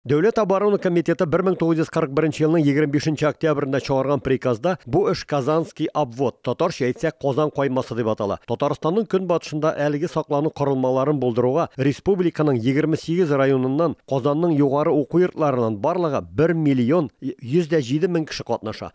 Дәүләт оборона комитеты 1941 елның 25 октябрендә чыгарган приказда бу эш Казанский обвод, татарча әйтсәк Казан каймасы дип атала. Татарстанның көнбатышында әлеге саклану корылмаларын булдыруга республиканың 28 районыннан, Казанның югары уку йортларыннан барлыгы 1 миллион 107 мең кеше катнаша.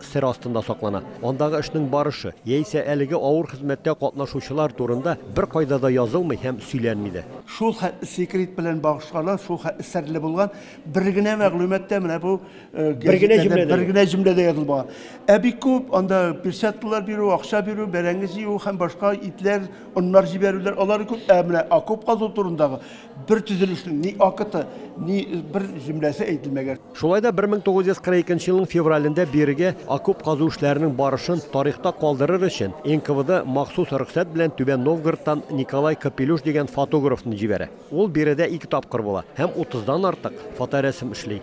сер астында саклана. Андагы эшнең барышы, яисә әлеге авыр хезмәттә катнашучылар турында беркайда да язылмый һәм сөйләнми дә. Шул хәтле секрет белән багышланган, шул хәтле серле булган бер генә мәгълүмат та менә бу гәҗитләрдә бер генә җөмләдә язылмаган. Ә бик күп анда перчаткалар бирү, акча бирү, бәрәңге җыю һәм башка итләр, оннар җибәрүләр, алары күп. Ә менә окоп казу турындагы Бер төзелешнең ни акыты, ни бер җөмләсе әйтелмәгән. Шулай да 1942 елның февралендә бирегә окоп казу эшләренең барышын тарихта калдырыр өчен НКВД махсус рөхсәт белән Түбән Новгородтан Николай Капелюш дигән фотографны җибәрә. Ул биредә ике тапкыр була һәм 30 дан артык фоторәсем эшли.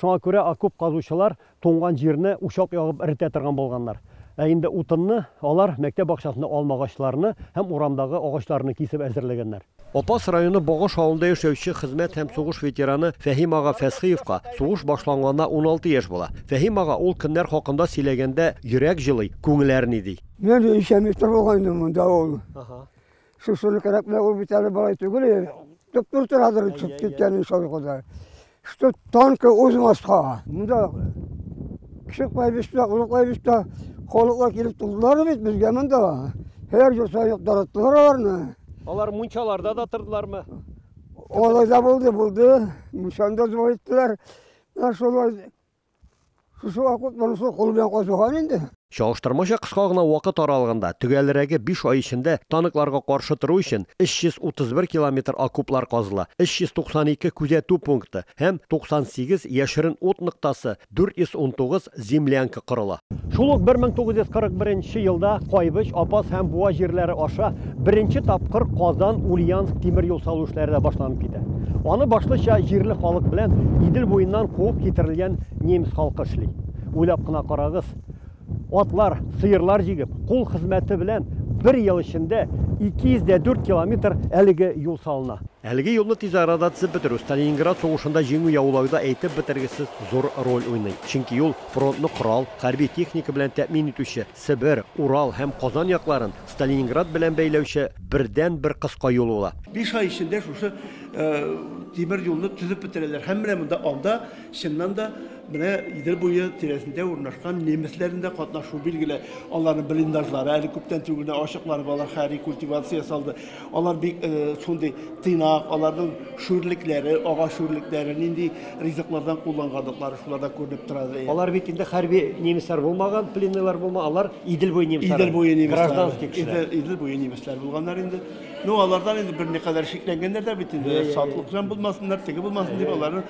Шуңа күрә окоп казучылар туңган җирне учак ягып эретә торган булганнар. Ә инде утынны алар мәктәп бакчасында алма агачларны һәм урамдагы агачларны кисеп әзерләгәннәр. Апас районы Богыш авылында яшәүче хезмәт һәм сугыш ветераны Фәһим ага Фәсхиевка сугыш башланганына уналты яшь була. Фәһим ага ул көннәр хакында сөйләгәндә йөрәк җылый, күңел әрни, ди. Мин өй эчән метр булган инде монда ул. Шушыны карап, менә ул бит әле балай түгел, туп-тур торадыр чыгып киткән иншалла Ходай. Что танка узмаска. Монда кеше кайбышта, улы кайбышта халыклар килеп тордылар бит безгә монда. Һәр ел саеп тараттылар аларны. Алар мунчаларда да тордылармы? Алай да булды, булды. Мунчаны да зур иттеләр. Шулай Шушы вакыт монысы кул белән казыган инде. Чагыштырмача кыска гына вакыт аралыгында, төгәлрәге биш ай эчендә, танкларга каршы тору өчен 331 километр окоплар казыла, 392 күзәтү пункты һәм 98 яшерен ут ноктасы, 419 землянка корыла. Шул ук 1941 елда Кайбыч, Апас һәм Буа җирләре аша Беренче тапкыр Казан, Ульяновск тимер юл салу эшләре дә башланып китә. Аны башлыча җирле халык белән Идел буеннан куып китерелгән немец халкы эшли. Уйлап кына карагыз, атлар, сыерлар җигеп, кул хезмәте белән бер ел эчендә 204 километр әлеге юл салына. Әлеге юлны тиз арада төзеп бетерү Сталининград сугышында җиңү яулауда әйтеп бетергесез зур роль уйный. Чөнки юл фронтны корал, хәрби техника белән тәэмин итүче, Себер, Урал һәм Казан якларын Сталининград белән бәйләүче бердәнбер кыска юл була. Биш ай эчендә шушы тимер юлны төзеп бетерәләр һәм менә монда анда, чыннан да, менә Идел буе тирәсендә урнашкан немецләрнең дә катнашуы билгеле. Аларның блиндажлары әле күптән түгел генә ачыкланып, алар хәрби культивация ясалды. Алар бик шундый тыйнак, аларның шүрлекләре, агач шүрлекләре, нинди ризыклардан кулланганлыклары шуларда күренеп тора. Алар бит инде хәрби немецлар булмаган, пленныйлар булма, алар Идел буе немецлары. Идел буе немецлары. Гражданский кешеләр. Идел буе немецлар булганнар инде. Ну, алардан инде бер никадәр шикләнгәннәр дә бит инде. Сатлык белән булмасыннар, теге булмасын дип, аларны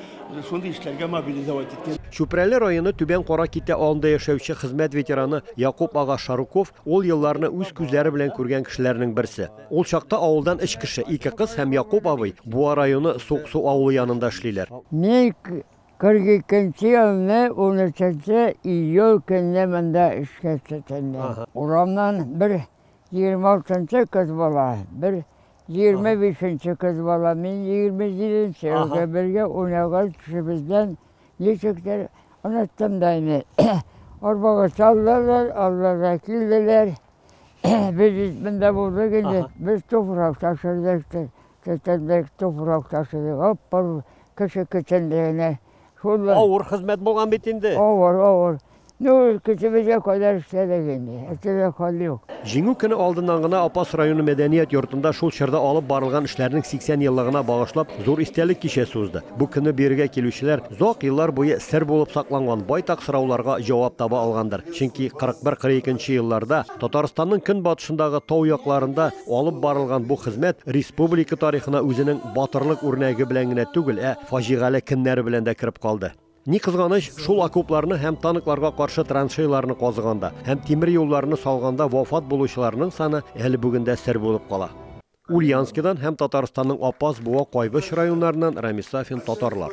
шундый эшләргә мобилизовать иткән. Чүпрәле районы Түбән Кара Китә авылында яшәүче хезмәт ветераны Якуп ага Шаруков Ул елларны үз күзләре белән күргән кешеләрнең берсе. Ул чакта авылдан өч кеше, ике кыз һәм Якуп абый Буа районы Суыксу авылы янында эшлиләр. Мин 42 нче елны 13 нче июль көнне монда эшкә тотындым. Урамнан бер 26 нчы кыз бала, бер Егерме бишенче кыз балам, мин егерме җиденче елда бергә уйнаган кешебездән ничектер оныттым да инде. Арбага салдылар, алларга килделәр. Без исмендә булдык инде. Без туфрак ташыдык, тетендек туфрак ташыдык. Ап-ап кеше көтендегенә Шулай. Авыр хезмәт булган бит инде. Авыр, авыр. Ну, көчебезгә кадәр эшләдек инде. Әйтергә хәл юк. Җиңү көне алдыннан гына Апас районы мәдәният йортында шул чорда алып барылган эшләрнең 80 еллыгына багышлап зур истәлек кичәсе узды. Бу көнне биергә килүчеләр озак еллар буе сер булып сакланган байтак сорауларга җавап таба алгандыр. Чөнки 41-42 елларда Татарстанның көнбатышындагы тау якларында алып барылган бу хезмәт республика тарихына үзенең батырлык үрнәге белән генә түгел, ә Фаҗигале кемнәре белән дә кереп калды. Ни кызганыч, шул окопларны һәм танкларга каршы траншейларны казыганда һәм тимер юлларны салганда вафат булучыларның саны әле бүген дә сер булып кала. Ульяновскидан һәм Татарстанның Апас, Буа, Кайбыч районнарыннан Рамис Сафин, татарлар.